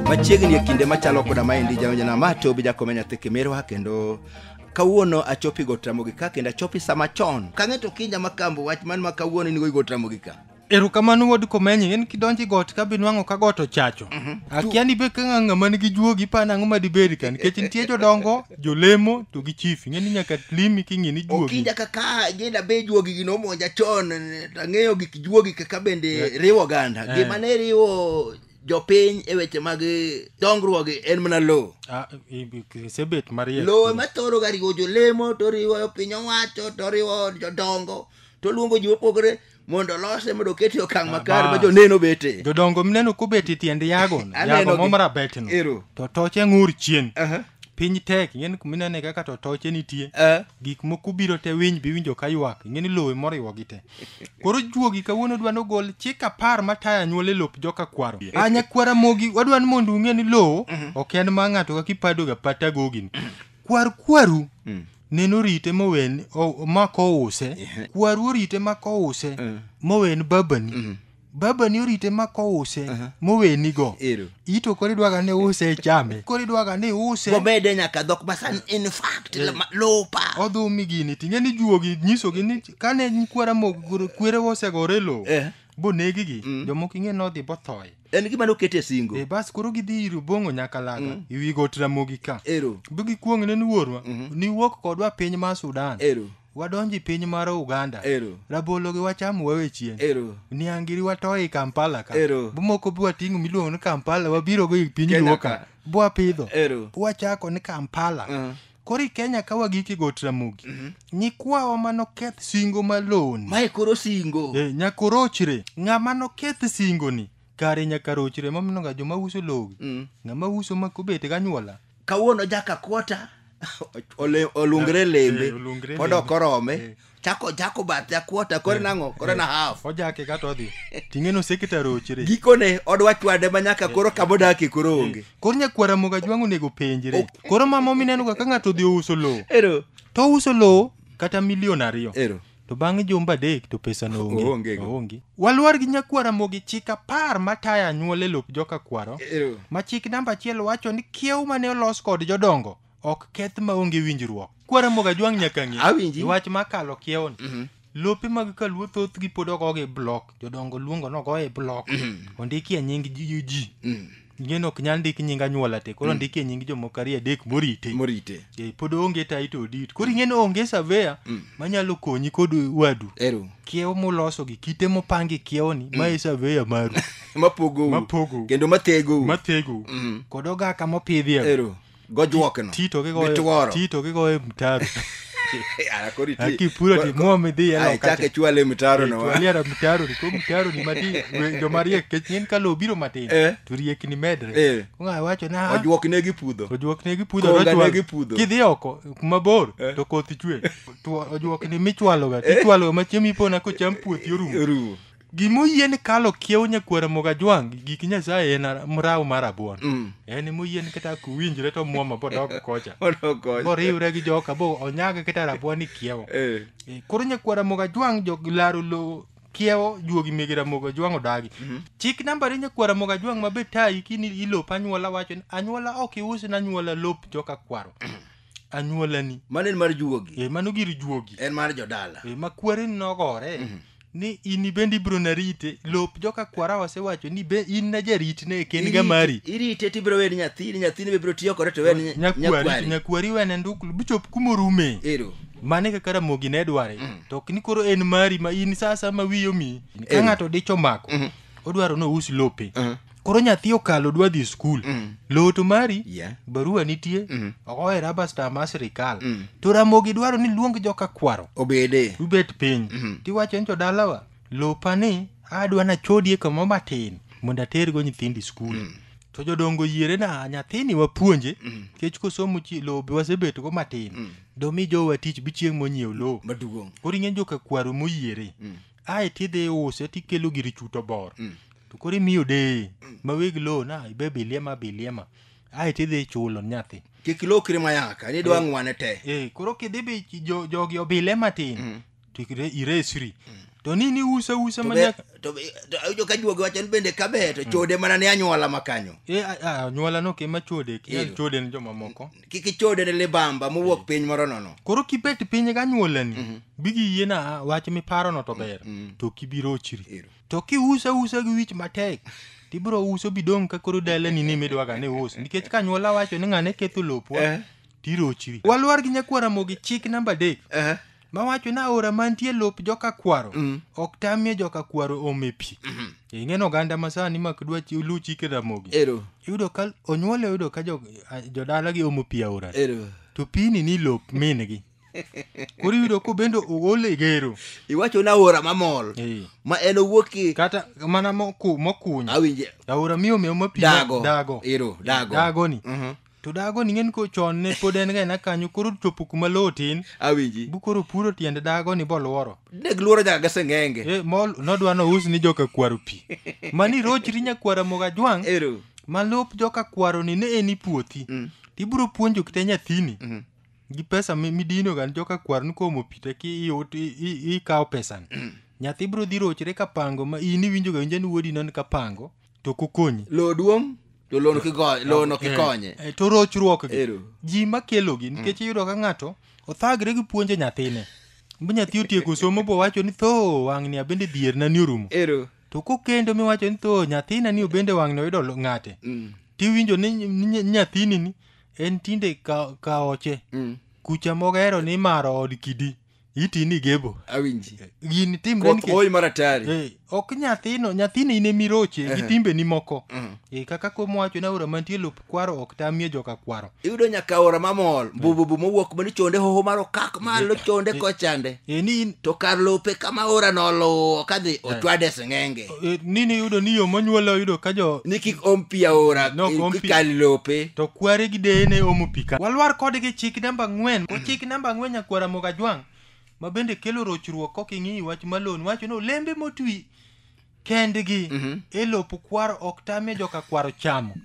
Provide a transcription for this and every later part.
machiegni e kinde machalo koda maendi jaonjana ma to obi jakome nyathi kimirwa kendo kawuono achopi gotramogi ka kendo achopi sama chon kang'e to kinya makambo wach man ma kawuono in go igotramogi ka Erokamano wuod Komenyi, in kidonjo e got ka binwang'o ka got ochacho. Mhm. Akia ni be ka ng'ama nigi juogi pa nang'o ma dibed ka nikech nitie jodongo, jolemo to gi chief. Ing'e ni nyaka limi king'e ni juogi. Okinja kaka jenda be juogi gino monja chon tang'eyo gik juogi kaka bende eh. riwo oganda. Eh. Gima ne riwo jopiny e weche mag dongruoge en mana lowo ah, sebet mariek lowo ema thoro ga riwo jolemo to riwo piny owacho to riwo jodongo to luongo ji mopogore mondo olose mondo okete e okang' makare ma Bas. joneno bete jodongo mineno kobet e tiend yagono Aneno yago gi- mom rabetno Ero. to toche ng'ur chien Aha. piny tek ing'eni kuminene kaka to toche nitie Eh. gik moko biro te winy biwinjo ka ywak ing'eni lowe moriwo gi te koro juogi kawuono dwa ni ogol chik apar matayo anyuola e lop joka kwaro a nyakwara mogi wadwa ni mondo ung'e ni lowo ok en ma ng'ato kaka ipadoga pata gogini kwar kwaru nene orite mowen o- ma kouse kwaru orite ma kouse mowen babani babani orite ma kouse mowenigo Ero. ito koro idwaga ni use chame koro idwaga ni use wamede nyaka dhok masani in fact lama- lopa odhumi gini ting'e ni juogi nyisogi ni kane kwara mo- kwerewa osegore e lowo Eh. bonegigi jomoko ing'e nodhi bothoye en gima nokete singo e bas koro gidhi ir obong'o nyakalaga e wi got ramogi ka ero bi gikwong' ne ni wuorwa niwuok kodwa piny mar sudan ero wadonji piny mar uganda ero rabologi wachamo wawe chien ero niangiri watoyi kampala ka Ero. bumoko bwating'o miluongo ni kampala wabirogo i piny Kenya luo ka ka. bwapidho ero wachako ni kampala Mhm. koro i kenya ka wagik e got ramogi nyikwawa ma noketh singo maloni mae koro singo Eh, nyaka orochre ng'ama noketh singoni kare nyaka rochre mamino ga joma uso logi Mm. ng'ama uso ma kobet ganyuola kawuono jaka kota ole- olungre lembe eh, olungre pod lembe. ok orome Eh. chako chako bath jakuota kore nang'o kore na half ojake kata odhi ting'eno sekta rochre gikone odwa chwade ma nyaka koro kamodakie koro onge koro nyakwara moga jwang' onego penjre koro mama minenoga ka ng'ato odhi ouso lowo ero to ouso lowo kata milion ariyo ero to bang' jumba adek to pesano Oonge onge go. onge walwar gi nyakwara mogi chik apar matayo anyuola e lop joka kwaro ero ma chik namba achiel wacho ni kiew mane olos kod jodongo ok keth maonge winjruok kwaramogo ajwang' nyaka ng'e Awinji. wach makalo kiewoni Mhm. lope mag kaluo thothgi pod ogogi blok jodongo luongo nogoye blok ondikie nying ji ji Mm. ngeno ok nyal ndik nying anyuola te koro ndikie nying jomoko ariyo adek morite morite Eh, pod onge title deed koro ing'e ni onge surveyor manyalo konyi kod wadu ero kiewo muloso gi kite mopangi kiewoni ma e surveyor maru mapogou Mapogou. kendo mathegou mathegou Mhm. kod ogaka mopidhi ero gojuok no tito gigoyo gituoro tito gigoyo mtaro Yara, koro iti- Aki puro koro- ti muomi dhi e Ai, loka chak cha. ichwale e mtaro no wa. twaliara mtaro ni ko mtaro ni mati we- joma riek kech ng'en ka lowo biro matin Eh. to riekni medre Eh. kong'a wacho na ojuok ne gipudho ojuok ne gipudho Konga tochwal- ne gipudho. kidhi oko kuma bor Eh. to koth chwe Two- ojuok ni michwaloga tichwaloga ma chiemo ipona kocham puothi orumo orumo gima oyie ni kalo kiewo nyakwara mogajwang' gi gik nyasaye en ara- mraw mar abuon Mm. en moyie ni kata kuwinjre to mwoma bodok kocha Odok kocha. boriwre gi joka bo onyag kata rabuon ni kiewo Eh. Eh, koro nyakwara mogajwang' jog laro lowo kiewo juogi mege ramogo jwang' odagi chik namba re nyakwara moga jwang' mabe tayi kini ilop anyuola wacho ni anyuola ok iusna anyuola lop joka kwaro anyuolani mano en mar juogi e mano gir juogi en mar jodala e ma kwari nogore Mhm. ni in ibendi ibiro narite lop joka kwara osewacho ni be in na jaritne e kenga Irite- mari irite tibiro weni nyathini nyathini be biro tiyo kode to weni nya- nyakwari nyakwari nyakwari wene nduklu bichop kumorume ero mane kaka ramogi ne dware Mm. to ok ni koro en mari ma in sasa ma wiyo mi ka Ero. ng'ato dich omako Mhm. odwaro ni ous lope Mhm. koro nyathi okalo dwa dhi skul Mm. lowo to mari Yeah. barua nitie Mm. ogoye raba star mar sirikal Mm. to ramogi dwaro ni luong joka kwaro obede ubet piny Mhm. tiwacho ni jodalawa lopa ni adwa nachodie kamoro matin mondo atergo nyithindi skul to jodongo yiere na nyathini wapuonje kech kosomo chi- lowo be wasebetgo matin domi jowa tich bichieng' monyiew lowo maduong' koro ing'e joka kwaro moyiere ae tidhi iuse tikelo gir chuto bor mm. to koro imiyo deye mm. ma weg lowo na ibe biliema biliema ae tidhi ichulo nyathi kik lokri mayaka ni dwa eh. ng'wane te eh, koro kidhi bi jogi obile matin mm. to iresri mm. to ni ni use use manyakaawinjo ka juogi wacho ni bende kabe to mm. chode mana ne anyuola makanyo eh, anyuola no kema chode chode ne jomamoko kik ichode ne libamba mowuok piny moro nono koro kibet piny ganyuolani bigiyiena wach miparono to ber to kibirochri Ero. to kiuse use gi wich matek tibiro uso bidong' ka koro dalani ni midwaga ni us nikech kanyuola wacho ni ng'ane ketho lopwa Eh. tirochri walwar gi nyakwaramogi chik namba adek Eh. mawacho ni aora mantie lop joka kwaro Mm. ok tamie joka kwaro ome pi ing'eno oganda masani mak dwa chi- lu chike ramogi Ero. iyudo ka onyuol oyudo ka jo- a- jodalagi omo pi aora Ero. to pini ni lop mingi koro iyudo ko bende ool e gero Iwacho na ora mamol. Eh, Ma en owuok ki kata mana moku- mokuny awinje aora miome oma pi dago. dago Ero, dago. dagoni Mhm. to dago ni ng'en ko chon ne pod en gaena kanyo koro chopo kuma lowo tin awinji bu koro puro tiende dago ni boluoro ne giluoro nyaka gaseng'enge e, mol nodwa nous ni joka kwaro pi mani rochri nyakwara moga jwang' ero ma lop joka kwaro ni ne en i puothi Mm. tibiro puonjo kite nyathini Mhm. gi pesa mi- midinoga ni joka kwaro ni komo pi te ki iut- i- i- ikawo pesani nyathi biro dhi rochre ka pango ma in iwinjoga winja ni wuodi non ka pango to ok okonyi lowo duong' to lowo ok igo- lowo ok ikonye Eh, eh, to rochruok gi Ero. ji makelogi nikech iyudo ka ng'ato othagre gi puonjo nyathine mi nyathi otieko somo bowacho ni tho wang'ni abende dhierna ni orumo ero to kokendo miwacho ni tho nyathina ni obende wang'ni oyudo lo- ng'ate Mm, tiwinjo ni ny- ny- nyathini ni en tinde ka- kaoche mm. kucha mogero ni imaro od kidi itini gebo awinji gini timre koth nikech oyi mara tayari Eh, ok nyathino nyathino in emiroche gi Ehe. timbeni moko Eh, kaka kuom wacho ni aora mantie lop kwaro ok tamie joka kwaro iyudo nyaka ora mamol mbububu mowuok mani chonde hoho mar okak malo chonde kochande Eh, ni in to kar lope kama ora noluwo kadhi ochwade sing'enge eh, nini yudo ni yo monyuola oyudo ka jo ni kik om pi aora No, eh, om pi. kikal lope to kware gi deye ne omo pi ka walwar kodgi chik namba ang'wen ko chik namba ang'wen nyakwara moga jwang' ma bende kelo rochruok kok ing'i wach malon wacho ni olembe motwi kendgi e lop kwaro ok tamie joka kwaro chamo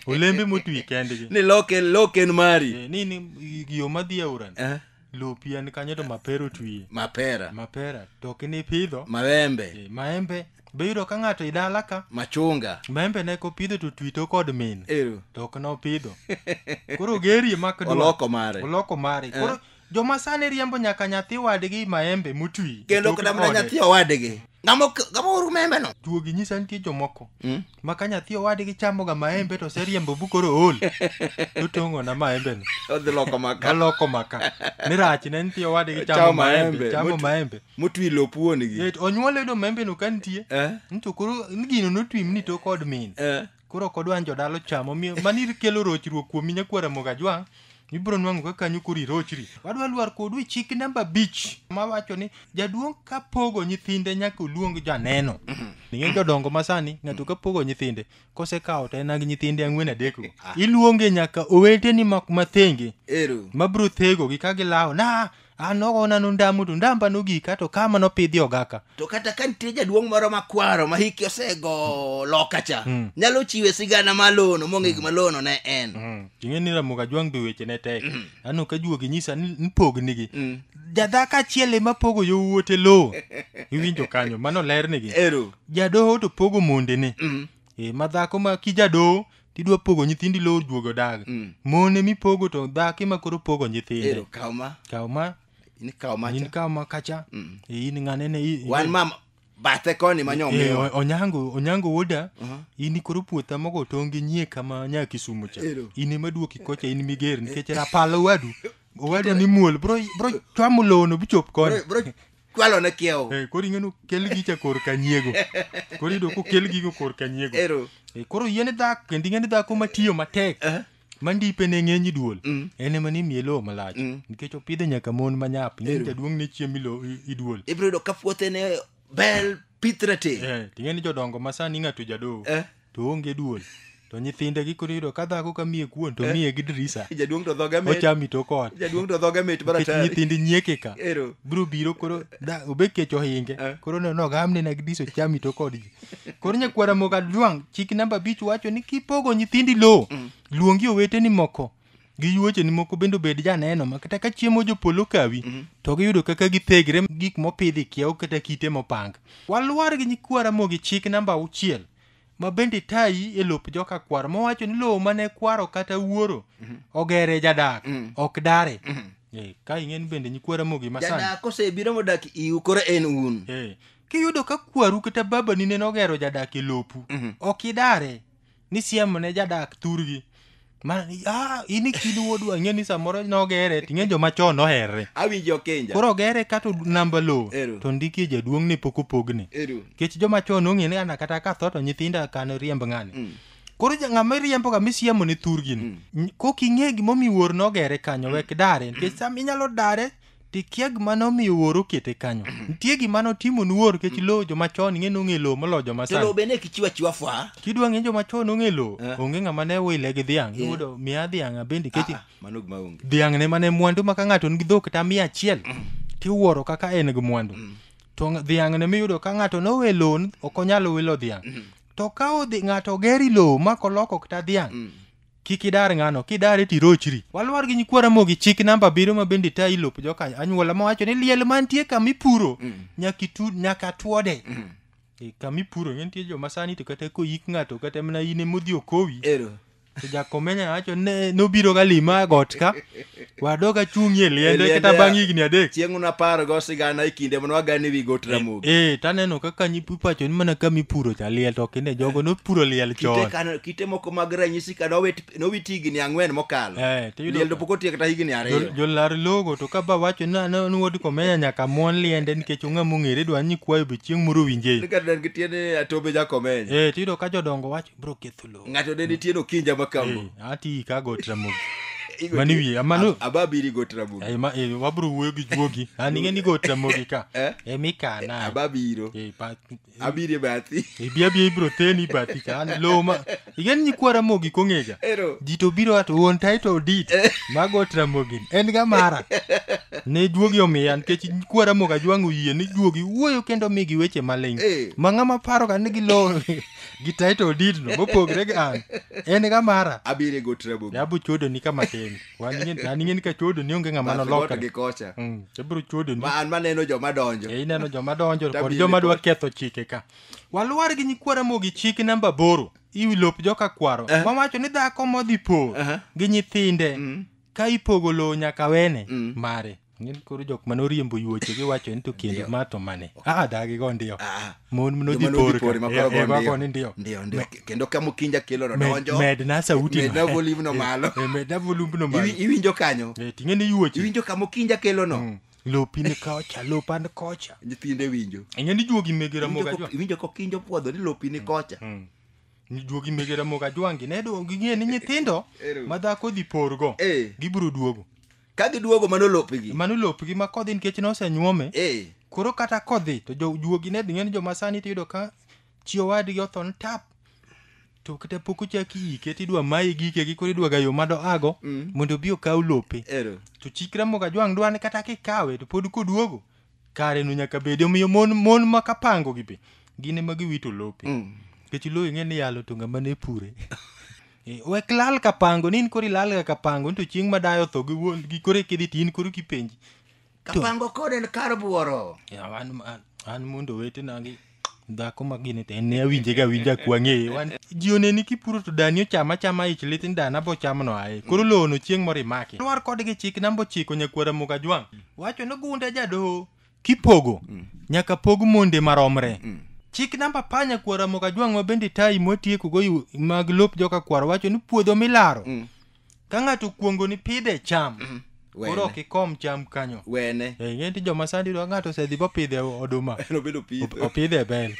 olembe motwi kendgi ni loken loken mari Eh, ni ni yo madhi aorani Eh. lopi en kanyo to mapera otwie mapera mapera to ok nipidho mawembe Eh, maembe be yudo ka ng'ato idala ka machunga maembe ne kopidho to twi to kod min ero to ok nopidho koro gerie mak dwa. oloko mare oloko mare koro joma sani riembo nyaka nyathi wadgi maembe motwi kendo Tok kata mana ode. nyathi owadgi ng'ama ok- ng'ama oru membe no Duogi nyisa nitie jomoko Mm. ma ka nyathi owadgi chamoga maembe to oseriembo bu koro ool totong'o na maembeno odhi loko maka aloko maka ni rach ne nitie owadgi Chamo chamo maembe, maembe chamo mot- maembe motwi lop wuonigi Yet onyuol yudo maembeno ka nitie Eh, ni to koro ni gino notwi mni to kod min eh. koro ok odwa ni jodala ochamo miyo- mani kelo rochruok kuomi nyakwara mogajwang' ibiro nwang'o ka kanyo koro irochri wadwa lwar kodu e chik namba abich ma wacho ni jaduong' ka pogo nyithinde nyaka oluong janeno ning'e jodongo masani ng'ato ka pogo nyithinde kosekawo to en gi nyithinde ang'wen adekgo iluonge nyaka oweteni ma- mathenge Ero. mabiro thegogi ka gilawo na an nogo nanu ndamu to ndamba nogika to kama nopidhi ogaka to kata ka nitie jaduong' moro makwaro ma hiki osego loka cha Mm. nyalo chiwe sigana malono mong'e gima lono ne en Mm. ing'e ni ramoga jwang' be weche ne tek aneno ka juogi nyisa ni ni pognigi Mm. jadhako achiel ema pogo yowuote lowo iwinjo kanyo mano lernigi ero jadoho to pogo mondene Mm. e, ma dhako ma kijadoho tidwa pogo nyithindi lowo juogo dag Mm. mone mipogo to dhako ema koro pogo Ero nyithinde kaw ma. kaw ma In kaw ma. in cha. kaw ma kacha Mm. Eh, in ng'anene i- i- Wan mama bathe koni ma Eh, nyomiwa. o- onyango onyango woda Aha. in koro puotha mogo tong' gi nyie kama nya kisumu cha Ero. in ema duoki kocha in miger nikech rapal owadu owadu ni muol bro bro chwamo lowono bichop koni Bro- bro- kwalo ne kiewo Eh, koro ing'eno kel gicha kor ka nyiego koro iyudo kokel gigo kor ka nyiego ero Eh, koro yien dhako kendo ing'eni dhako matiyo matek Eh. mandipe ne ng'eny duol Mm. en ema ni miye lowo malach Mm. nikech opidhe nyaka mon manyap Ero. ing'eni jaduong' ne chiemo ilo- i- iduol ibiro yudo ka puothe ne bel pith ratil Eh, ting'eni jodongo masani ng'ato jadoo eh to onge duol to nyithinde gikoro yudo ka dhako ka miye kuon to miye gi dirisa jaduong' to dhoge mit ochami to kod jaduong' to dhoge mit nikech baratari nyithindi nyieke ka ero biro biro koro da- obed kech ohinge Eh. koro ne nogamne na gidiso chami to kod ji koro nyakwara moga dwang' chik namba abich wacho ni kipogo nyithindi lowo luongi oweteni moko gi yuocheni moko bende obed janeno ma kata ka chiemo jopolo kawi to giyudo kaka githegre gik mopidhi kiewo kata kite mopang walwar gi nyikwa ramogi chik namba auchiel ma bende tayi e lop joka kwaro mowacho ni lowo mane kwaro kata wuoro ogere jadak ok dare Eh, ka ing'eni bende nyikwa ramogi masani jadak kosebiro modak iu koro en un Eh, kiyudo ka kwaru kata babani nene ogero jadak e lopu ok idare ni siem ne jadak thurgi ma ah, in ikid wuodwa ing'e ni samoro nogere ting'e joma chon oherre awinjo kenja koro ogere kato namba lowo Ero. to ndikie jaduong' ni pok opogne eru nikech joma chon ong'e ni ana kata katho to nyithinda kano riemb ng'ani Mm. koro ja- ng'ama iriemboga misiemo ne thurgini Mm. N- kok ing'e gimomiyo wuor nogere kanyo wek dare nikech sam inyalo dare tikia gima nomiyo wuoro okete kanyo nitie gima notimo ni wuoro kech lowo joma chon ing'e nong'e lowo moloyo joma to lowo sani be ne kichiwa chiwa fwa kidwa ng'e joma chon ong'e lowo Eh. onge ng'ama ne wile gi dhiang' Eh. iwuodo miya dhiang' abende kech Ah, mano gima onge dhiang' ne mane mwandu ma ka ng'ato nigi dhok kata miya achiel tiwuoro kaka en gi mwandu to ng- dhiang' ne miyudo ka ng'ato nowe lowo n- ok onyal wilo dhiang' to ka odhi ng'ato ogeri lowo ma koloko kata dhiang' Kik idar ng'ano, kidare tirochri. Walwar gi nyikwa Ramogi chik namba abiriyo ma bende tayo ilop joka anyuola mawacho ni liel mantie kama ipuro nyaka itu nyaka twode. E, kama ipuro ng'e nitie joma sani to kata koyik ng'ato kata mana in emodhi okowi. Ero. To jakomenya wacho ne nobiro ga lima e got ka wadok achung'ie liende Liende, kata bang' higni adek chieng' unapargo sigana e kinde mane wagane wi got ramogi ee taneno kaka nyipacho ni mana kama ipuro cha liel to kinde jogo nopuro liel kite, chon kano, kite moko mag ranyisi ka nowit nowit higni ang'wen mokalo Eh, tiyudo liel to ka- pok otiek kata higni Jo- ariyo jolar logo to ka ba wacho ni ane ni wod komenya nyaka mon liende nikech ong'a mong'ere dwa ni kwayo be chieng' moro winje Ni kata en gi tiende ni atombe jakomenya ee tiyudo ka jodongo wacho bro ketho lo ng'ato ne nitie nokinja makambo Eh, ati ikago tramogi Igo- mani wiye amano ababiri go tramogi Eh, ma- eh, wabro wuoyo gi juogi an ing'e ni go tramogi ka Eh? e mikana ababiro Eh, pa- abiri e bathi ibia bia ibro theni bathi ka an lo ma ing'e ni nyikwa ramogi kong'ega ero ji to biro ato wuon title deed mago tramogi en ga mara ne juogi omiya nikech nyikwa ramogi ajwang'o yie ni juogi wuoyo kendo migi weche maling Eh. ma ng'ama paroga ni gilo gi title deed no mopogre gi an en ga mara abire go trouble be abro chuodo ni kama tin wan ing'e- an ing'e ni ka chuodo ni onge ng'ama But noloka goto gi kocha Mm, abro chuodo ni ma an maneno joma donjo e ineno joma donjo kod Tabiri joma dwa kod- ketho chike ka waluwar gi nyikwara mogi chik namba boro iwi lop joka kwaro mawacho ni dhako modhi por gi nyithinde ka ipogo lowo nyaka wene Mm. mare ng'en koro jok mane oriembo yuoche giwacho ni to kendo Ndio. ma to mane ah dagi go ndio Ah, mon joma nodhi nodhi por pore ma koro go ndio. go ni ndio Ndio, ndio. kendo ka mukinja kelo no Med- donjo medna sauti medna malo. volume no Eh, malo eh, medna volume no malo Iwi- iwinjo kanyo Eh, ting'e ni yuoche iwinjo ka mukinja kelo no Mm. lopi ni kocha lopa ni kocha nyithinde winjo ing'e ni juogi mege Iwinjo ramoga ko- iwinjo kokinjo puodho ni lopi ni kocha Mm. duogi mege ramogi ajwangi ne do ging'e ni nyithindo Ero. ma dhako dhi porgo Eh. gibiro duogo ka giduogo mano lopgi mano lopgi ma kodhi nikech nosenyuome Eh, koro kata kodhi to jo- juogi ne dhi ng'e ni joma sani tiyudo ka chi owadgi otho ni tap to kata pok ochaki ike tidwa mayi gike gi koro idwaga yo mado ago Mm. mondo obi okaw lope ero to chik ramogi ajwang' dwa ni kata kikawe to pod koduogo kare no nyaka bedi omiyo mon mon ma kapango gi be gin ema giwito lope nikech lowo ing'e ni yalo to ng'ama ne pure Eh, wek lal kapango ni in koro ilal ga kapango ni to chieng' ma dayo tho gi wuon gi koro ekidhi to in koro kipenji kapango kod en kar buoro Ya, an, an, an mondo wetena gi dhako ma gini to en ne awinje ga winja kwang'e wan ji oneni kipuro to dani ochama chama ich lit ni dana bo chamno ae koro lowono chieng' moro imaki lwar kodgi chik nambo chiko nyakwara muga jwang' wacho ni gunde jadoho kipogo nyaka pog monde maromre chik namba pa nyakwara muga jwang' ma bende tayi mwatiekogo yu- mag lop joka kwaro wacho ni puodho milaro ka ng'ato okuongo ni pidhe cham mm-hmm. koro ok ikom cham kanyo wene eh, ing'e ni joma sandi dwa ng'ato osedhi bopidhe oduma opidhe e bel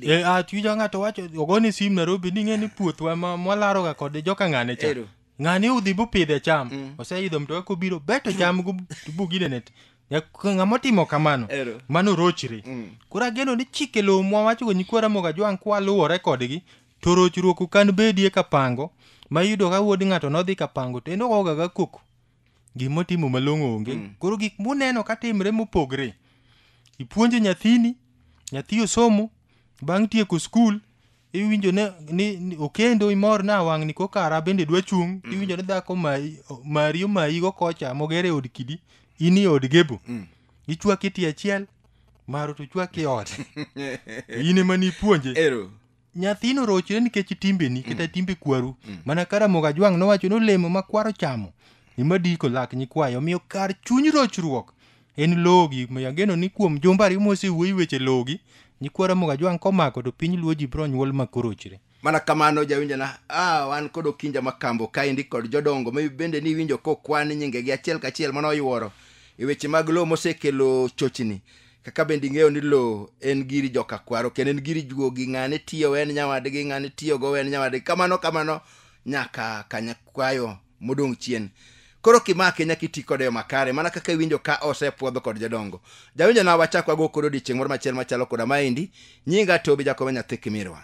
eh, ah, twijo ng'ato wacho ogoni sim narobi ni ing'e ni puothwa mwalaroga kode joka ng'ane cha ng'ani udhi bupidhe cham mm. oseidho mtoka kobiro beto cham buginene ng'ama otimo kamano mano rochre mm. koro ageno ni chike lowo mwawachogo nyikwara moga jwang' kwaluwore kodgi To rochruok ok an bedie ka pango, ma iyudo ka wuod ng'ato nodhi ka pango to en ogoga ga koko. Gima otimo malong'o onge. Mm. Koro gik muneno ka timre mopogre. Ipuonjo nyathini, nyathi osomo, bang' tieko skul, iwinjo ne, ni, ni okendo imor na wang'ni kokara bende dwa chung', mm. iwinjo ni dhako mayi, mari omayigo kocha moger e od kidi, in e od gebo. Mm. Ichwaki tie achiel, maro to chwaki ot. in ema nipuonje. Ero. nyathino rochre nikech timbeni kata timbe kwaru mana ka ramogi ajwang' nowacho ni olemo ma kwaro chamo ema diko lak nyikwayo omiyo kar chuny rochruok en logi Omiyo ageno ni kuom jumbe ariyo mosewuoyi weche logi nyikwa ramogi ajwang' komako to piny luo ji biro nyuol ma korochre mana kamano jawinjona ah, wan kod okinja makambo kaendi kod jodongo ma bende ni iwinjo kokwan nyingegi achiel kachiel mano oyuoro e weche mag lowo mosekelo chochni kaka bende ing'eyo ni lowo en giri joka kwaro kendo en giri juogi ng'ane tiyo wen nyawadgi ng'ane tiyogo wen nyawadgi kamano kamano nyaka kanyakwayo modong' chien koro kimake nyaka iti kode yo makare mana kaka iwinjo ka osepwodho kod jodongo jawinjo na wachak wago kod odiechieng' moro machiel machalo koda maendi nyinga tobi jakobe nyathi kimirwa